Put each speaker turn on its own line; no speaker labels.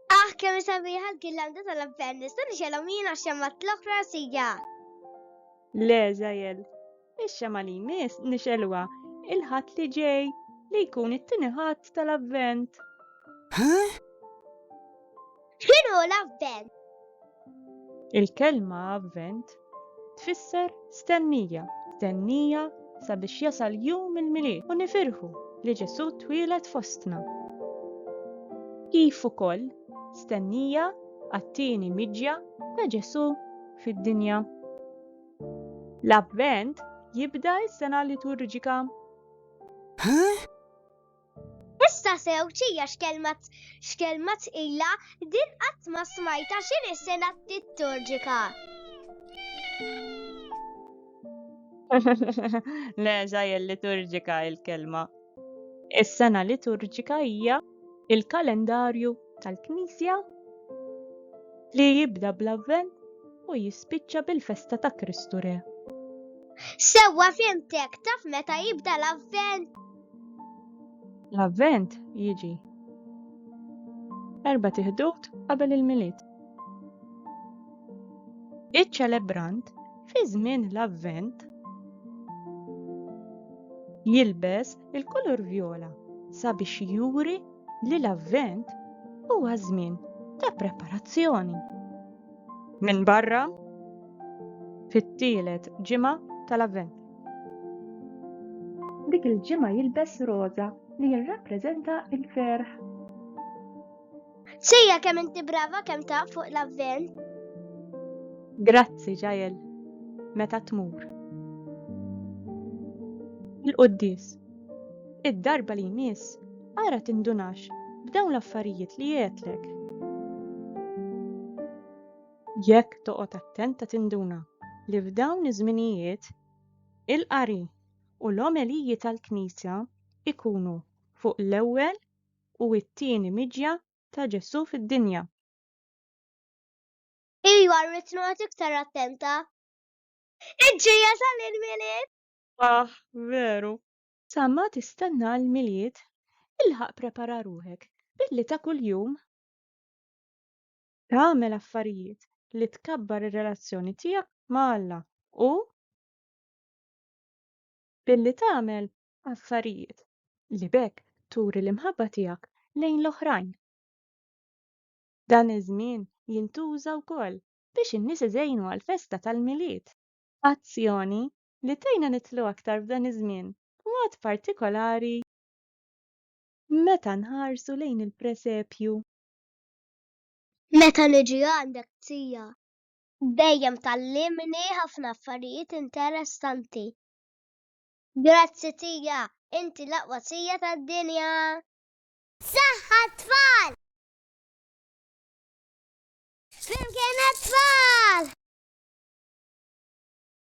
Ah, kemm sabiħa l-gillanda tal-avvent, nista' nixelhom jien għax hemm l-oħra sija.
Le, żgħajel. Ix-xemgħa li jmiss nixgħeluha il-Ħadd li ġej, li jkun it-tieni Ħadd tal-Avvent.
X'inhu l-Avvent? Il-kelma
Avvent tfisser stennija, stennija sabiex jasal jum il-Milied u nifirħu li Ġesù twieled fostna. Kif ukoll stennija għat-tieni miġja ta' Ġesù fid-dinja. L-Avvent jibda s-sena liturġika. Huh?
Issa sew ċija xkelmat xkelmat ila din qatt ma smajta x'in is-sena liturġika.
Le, ġajel liturġika il-kelma. Is-sena liturġika hija il-kalendarju tal-Knisja li jibda bl-Avvent u jispiċċa bil-festa ta' Kristu Re.
Sewwa fimtek, taf meta jibda l-Avvent?
L-Avvent jiġi erba' tiħdut qabel il-Milied. Iċ-ċelebrant fi żmien l-Avvent jilbes il-kulur vjola sabiex juri li l-Avvent huwa żmien ta' preparazzjoni. Minn barra fit-tielet ġimgħa tal-Avvent. Dik il-ġimgħa jilbes roża li jirrappreżenta l-ferħ.
Sejja kemm inti brava kemm taf fuq l-Avvent.
Grazzi ġajel meta tmur. Il-Quddis. Id-darba li jmiss, ara tindunax b'dawn l-affarijiet li għedtlek. Jekk toqgħod attenta tinduna li f'dawn iż-żminijiet, il-qari u l-omeliji tal-Knisja jkunu fuq l-ewwel u t-tieni miġja ta' Ġesù fid-dinja.
Ejja rrid noqgħod iktar attenta. Iġġejjeż għal il-Milied! Aħ,
veru! Sa ma tistenna l-Milied, ilħaq prepara ruħek billi ta' kuljum tagħmel affarijiet li tkabbar ir-relazzjoni tiegħek ma' Alla u billi tagħmel affarijiet li b'hekk turi l-imħabba tiegħek lejn l-oħrajn. Dan iż-żmien jintuża wkoll biex in-nies iżejnu għall-festa tal-Milied. Azzjoni li tgħinna nidħlu aktar f'dan iż-żmien, b'mod partikolari meta nħarsu lejn il-presepju.
Meta niġi għandek Zija. Dejjem tgħallimni ħafna affarijiet interessanti. Grazzi Zija, inti l-aqwa Zija tad-dinja! Saħħ għat-tfal! Flimkien għat-tfal!